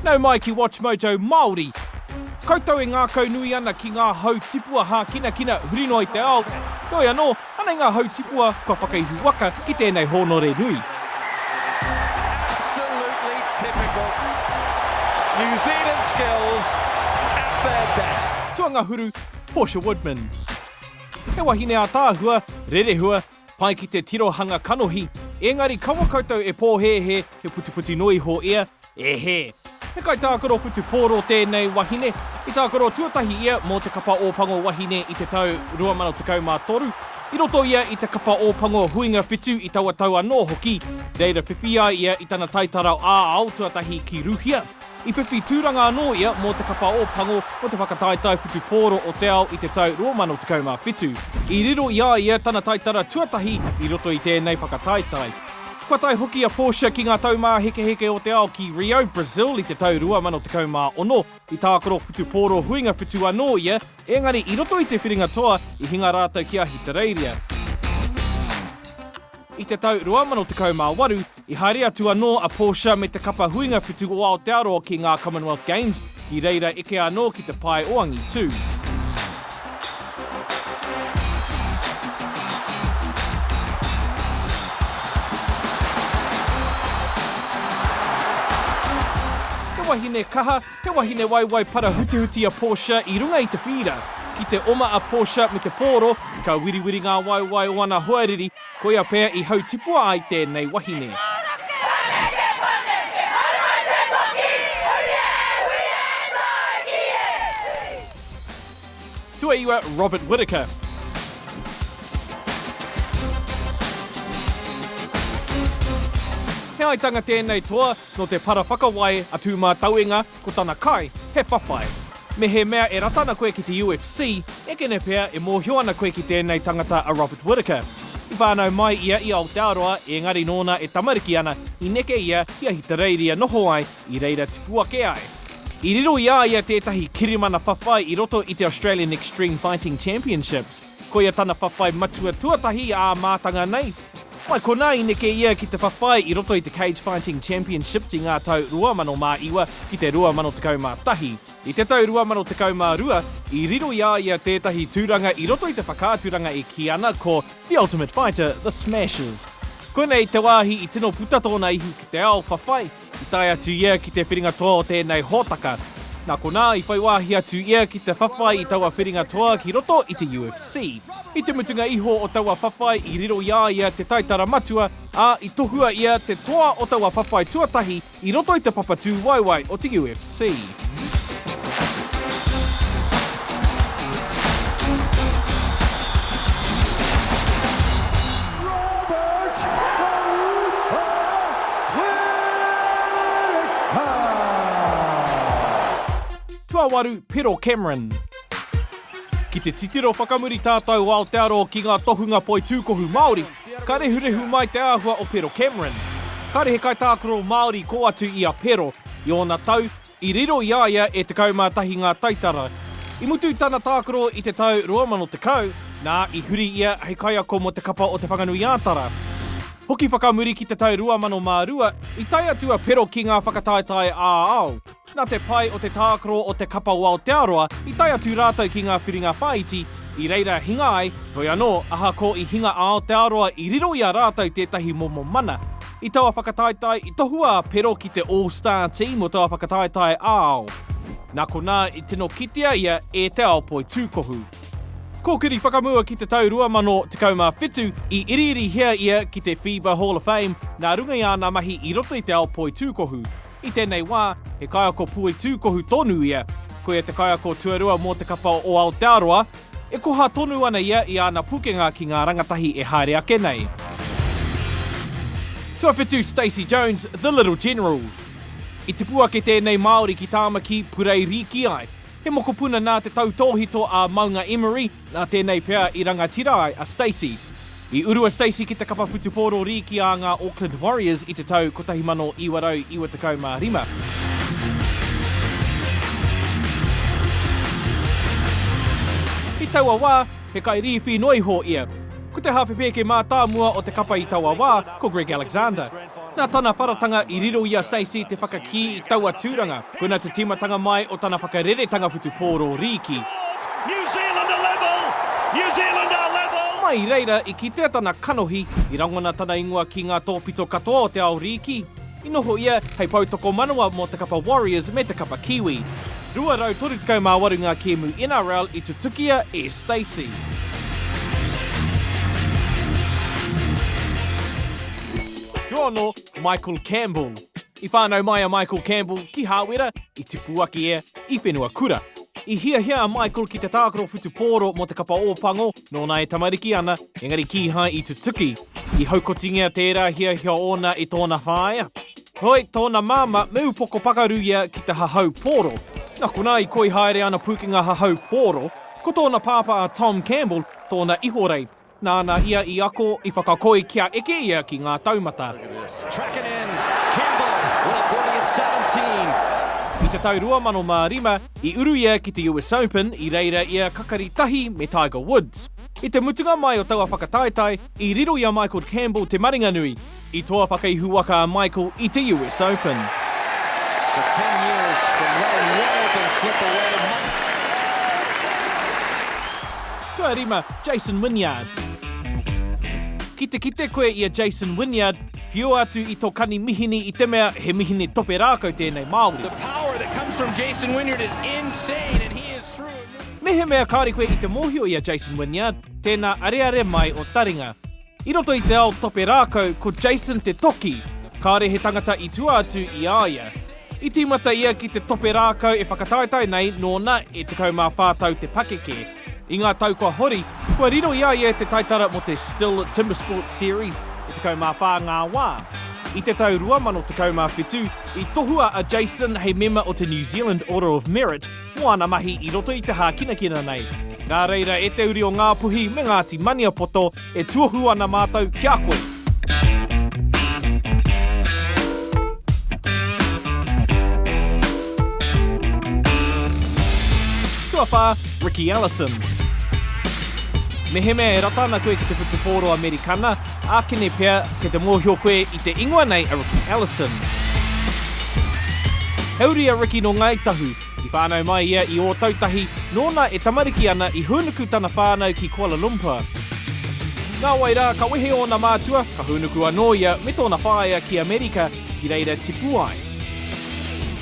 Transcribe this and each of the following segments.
Nau mai ki WatchMojo Māori! Koutou e ngākaunui ana ki ngā hau tipua hākinakina huri noa i te ao, heoi anō, anei ngā hau tipua kua whakaihu waka ki tēnei hōnore nui. Absolutely typical. New Zealand skills at their best. Tuangahuru, Portia Woodman. He wahine ātaahua, rerehua, Pai ki te tirohanga kanohi, engari kaua koutou e pōhēhē, he putiputi noa iho ia, e hē. He kaitākaro whutupōro tēnei wahine. I tākaro tuatahi ia mō te Kapa Ōpango Wahine i te tau 2013. I roto ia i te Kapa Ōpango Huinga Whitu i taua tau anō hoki, reira whiwhi ai ia i tana taitara ā-ao tuatahi ki Ruhia. I whiwhi tūranga anō ia mō te kapa o Pango mō te whakataetae whutupōro o te ao i te tau 2017. I riro i a ia tana taitara tuatahi i roto i tēnei whakataetae. Kua tae hoki a Portia ki ngā taumāhekeheke o te ao ki Rio, Brazil i te tau 2016. I tākaro whutupōro huinga whitu anō ia, ēngari i roto i te whiringa toa i hinga rātou ki Ahitereiria. I te tau 2018, I haere atu anō a Portia me te kapa huinga whitu o Aotearoa ki ngā Commonwealth Games, ki reira eke anō ki te pae o angitū. He wahine kaha, he wahine waiwai parahutuhuti a Portia i runga i te whīra. Ki te oma a Portia me te pōro, ka wiriwiri ngā waiwai o ana hoariri, Koia pea i hautipua ai tēnei wahine. Tuaiwa Robert Whittaker. He aitanga tēnei toa nō te para whakawai a Tūmātauenga, Ko tana kai, he whawhai. Mehemea e rata ana koe ki te UFC, ekene pea e mōhio ana koe ki tēnei tangata a Robert Whittaker. I whānau mai ia i Aotearoa, ēngari nōna e tamariki ana, i neke ia ki Ahitereiria noho ai, i reira tipu ake ai. I riro i a ia tētahi kirimana whawhai i roto i te Australian Extreme Fighting Championships. Koia tana whawhai matua tuatahi i ā mātanga nei. Mai konā i neke ia ki te whawhai i roto i te Cage Fighting Championships i ngā tau 2009 ki te 2011. I te tau 2012, i riro i a ia tētahi tūranga i roto i te whakaaturanga e kī ana ko The Ultimate Fighter, The Smashers. Koinei te wāhi i tino puta tōna ihu ki te ao whawhai. I tae atu ia ki te whiringa toa o tēnei hōtaka, nā konā i whai wāhi atu ia ki te whawhai i taua whiringa toa ki roto i te UFC. I te mutunga iho o taua whawhai i riro i a ia te taitara matua, ā, i tohua ia te toa o taua whawhai tuatahi i roto i te papatū waiwai o te UFC. Tuawaru, Pero Cameron. Ki te titiro whakamuri tātou o Aotearoa ki ngā tohunga poitūkohu Māori, Ka rehurehu mai te āhua o Pero Cameron. Kāre he kaitākaro Māori kō atu i a Pero, i ōna tau, i riro i a ia e 11 ngā taitara. I mutu tana tākaro i te tau 2010, nā, i huri ia hei kaiako mō te kapa o Te Whanganui-ā-Tara. Hoki whakamuri ki te tau 2002, i tae atu a Pero ki ngā whakataetae ā-ao. Nā te pai o te tākaro o te kapa o Aotearoa i tae atu rātou ki ngā whiringa whāiti i reira hinga ai, heoi anō, ahakoa i hinga a Aotearoa i riro i a rātou tētahi momo mana. I taua whakataetae, i tohua a Pero ki te All Star Team o taua whakataetae ā-ao. Nā konā i tino kitea ia e te ao poitūkohu. Kōkiri whakamua ki te tau 2017, i iriirihia ia ki te FIBA Hall of Fame nā runga i āna mahi i roto i te ao poitūkohu. I tēnei wā, he kaiako puei tūkohu tonu ia, ko ia te kaiako tuarua mō te kapa o Aotearoa, e koha tonu ana ia i āna pukenga ki ngā rangatahi e haere ake nei. Tuawhitu Stacey Jones, The Little General I tipu ake tēnei Māori ki Tāmaki, purei rīki ai. He mokopuna nā te tautōhito a Maunga Emery, Nā tēnei pea i rangatira ai a Stacey. I uru a Stacey ki te kapa whutupōro rīki a ngā Auckland Warriors i te tau 1995. I taua wā, he kairīwhi noa iho ia. Ko te hāwhe pēke mātāmua o te kapa i taua wā, ko Greg Alexander. Nā tana wharatanga i riro i a Stacey te whakakī i taua tūranga, kona te tīmatanga mai o tana whakareretanga whutupōro rīki. Mai i reira i kitea tana kanohi i rangona tana ingoa ki ngā tōpito katoa o te ao rīki, i noho ia hei poutokomanawa mō te kapa Warriors me te kapa Kiwi. 238 ngā kēmu NRL i tutukia e Stacey. Tūhono, Michael Campbell. I whānau mai a Michael Campbell ki Hāwera, i Tipuaki e, i Whenuakura. I hiahia a Michael ki te tākaro whutupōro mō te kapa Ōpango nōna e tamariki ana, engari kīhai i tutuki. I haukotingia tērā hiahia ōna i tōna whāea. Heoi, tōna māmā me upoko pakaru ia ki te hahau pōro. Nā konā i koi haere ana Pūkenga hahau pōro. Ko tōna pāpā a Tom Campbell tōna ihorei. Nāna ia i ako, i whakakoi kia eke ia ki ngā taumata. I te tau 2005, i uru ia ki te US Open, i reira ia kakari tahi me Tiger Woods. I te mutunga mai o taua whakataetae, i riro i a Michael Campbell te maringanui, I toa whakaihu waka a Michael i te US Open. So 10 years from now, Wall can slip away month. Tuarima, Jason Wynyard. Ki te kite koe i a Jason Wynyard, whiua atu i tō kani mihini i te mea he mihini tope rākau tēnei Māori. The power that comes from Jason Wynyard is insane and he is through. Mehemea kāore koe i te mōhio i a Jason Wynyard, tēnā areare mai o taringa. I roto i te ao tope rākau ko Jason te toki, kāore he tangata i tua atu i a ia. I tīmata ia ki te tope rākau e whakataetae nei nōna e 14 tau te pakeke. I ngā tau kua hori, kua riro i a ia te taitara mō te Stihl Timber Sports Series e 14 ngā wā. I te tau 2017, i tohua a Jason hei mema o te New Zealand Order of Merit, mō ana mahi i roto i te hākinakina nei. Nā reira e te uri o Ngāpuhi me Ngāti Maniapoto, e tuohu ana mātou ki a koe. Tuawhā, Ricky Ellison. Mehemea e rata ana koe ki te whutupōro Amerikana, Ākene pea, kei te mōhio koe i te ingoa nei a Riki Ellison. He uri a Riki nō Ngāi Tahu. I whānau mai ia i Ōtautahi, nōna e tamariki ana i hūnuku tana whānau ki Kuala Lumpur. Nāwai rā, ka wehe ōna mātua, ka hūnuku anō ia me tōna whaea ki Amerika, ki reira tipu ai.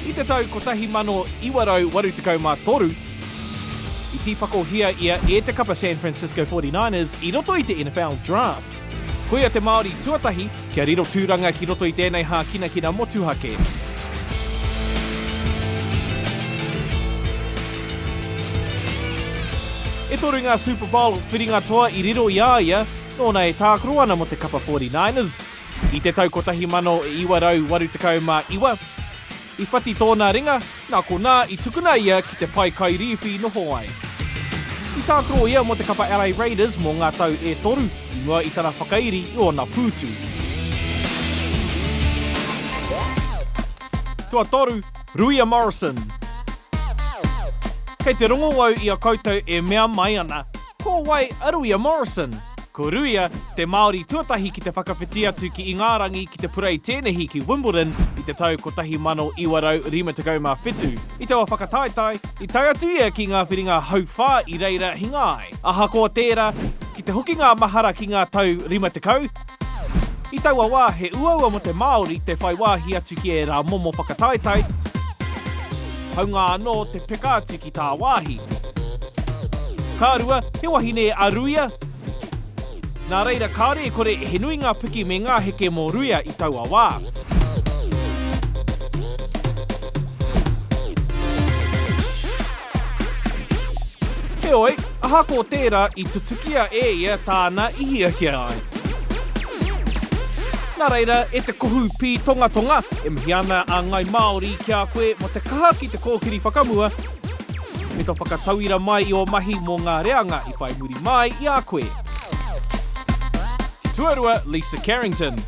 I te tau 1983, I tīpakohia ia e te kapa San Francisco 49ers i roto i te NFL Draft. Koia te Māori tuatahi kia riro tūranga ki roto i tēnei hākinakina motuhake. E toru ngā Super Bowl whiringa toa i riro i a ia, nōna e tākaro ana mō te kapa 49ers. I te tau 1989, I whati tōna ringa, nā konā i tukuna ia ki te pae kai rīwhi i noho ai. I tākaro ia mō te kapa LA Raiders mō ngā tau e toru, i mua i tana whakairi i ōna pūtu. Tuatoru, Ruia Morrison. Kei te rongo au i a koutou e mea mai ana. Ko wai a Ruia Morrison? Ko Ruia, te Māori tuatahi ki te whakawhiti atu ki Ingārangi ki te purei tēnehi ki Wimbledon i te tau 1957. I taua whakataetae, i tae atu ia ki ngā whiringa hauwhā i reira hinga ai. Ahakoa tērā, ki te hokinga mahara ki ngā tau 50, I taua wā, he uaua mō te Māori te whai wāhi atu ki ērā momo whakataetae, hāunga anō te peka atu ki tāwāhi. Ka rua, he wahine a Ruia, nā reira kāore e kore he nui ngā piki me ngā heke mō Ruia i taua wā. Heoi, ahakoa tērā i tutukia e ia tāna i hiahia ai. Nā reira, e te kohu pītongatonga, e mihi ana a Ngai Māori ki a koe mō te kaha ki te kōkiri whakamua me tō whakatauira mai i ō mahi mō ngā reanga i whai muri māi i a koe. Te Tuarua Lisa Carrington.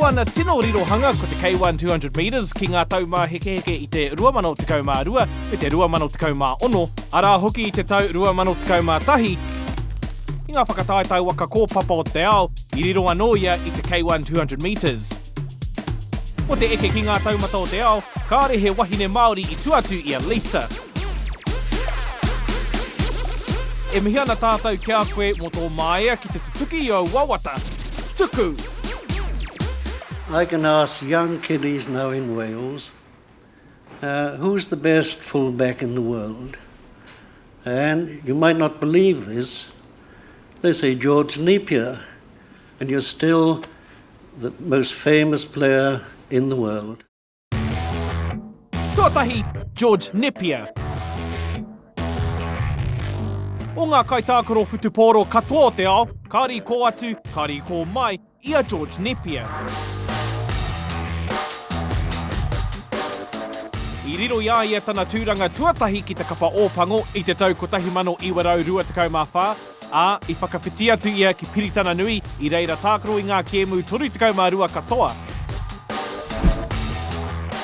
Ko ana tino rirohanga ko te K-One 200 metres ki ngā taumāhekeheke i te 2012 me te 2016, arā hoki i te tau 2011, i ngā whakataetae waka kōpapa o te ao, i riro anō ia i te K-One 200 metres. Ko te eke ki ngā taumata o te ao, kāore he wahine Māori i tua atu i a Lisa. E mihi ana tātou ki a koe mō tō māia ki te tutuki i ōu wawata. Tuku! I can ask young kiddies now in Wales, who's the best fullback in the world? And you might not believe this, they say George Napier. And you're still the most famous player in the world. Tuatahi, George Nepia. O ngā kaitākaro whutupōro katoa o te ao, kāre i kō atu, kāre i kō mai, i a George Nepia. I riro i a ia tana tūranga tuatahi ki te Kapa Ōpango i te tau 1924, ā, i whakawhiti atu ia ki Piritana Nui, i reira tākaro i ngā kēmu 32 katoa.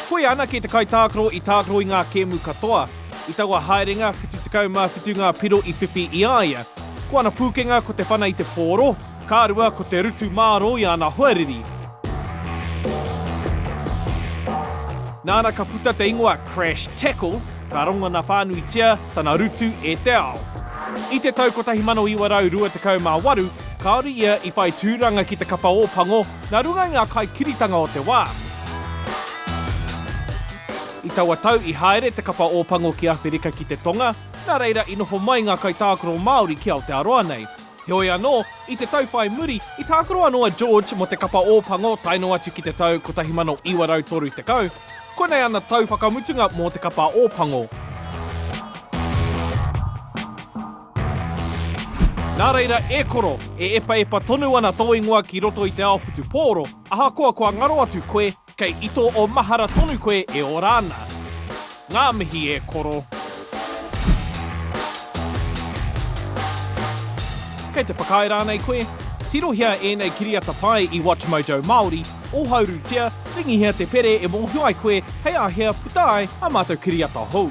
Koia anake te kaitākaro i tākaro i ngā kēmu katoa. I taua haerenga, 77 ngā piro i whiwhi i a ia. Ko ana pūkenga ko te whana i te pōro, Ka rua ko te rutu mārō i ana hoariri. Nāna ka puta te ingoa Crash Tackle, ka rongona whānuitia tana rutu e te ao. I te tau 1928, kāore ia i whai tūranga ki te Kapa Ōpango nā runga i ngā kaikiritanga o te wā. I taua tau i haere te Kapa Ōpango ki Āwherika ki te Tonga, nā reira i noho mai ngā kaitākaro Māori ki Aotearoa nei. Heoi anō, i te tau whai muri, i tākaro anō a George mō te Kapa Ōpango tae noa atu ki te tau 1930. Koinei ana tau whakamutunga mō te Kapa Ōpango. Nā reira, e koro, e epaepa tonu ana tō ingoa ki roto i te ao whutupōro, ahakoa kua ngaro atu koe, Kei ito o mahara tonu koe e ora ana. Nga mihi e koro. Kei te whakaae rānei koe? Tirohia ēnei kiriata pai i WatchMojo Māori, ōhaurutia, ringihia te pere e mōhio ai koe hei āhea puta ai ā mātou kiriata hou.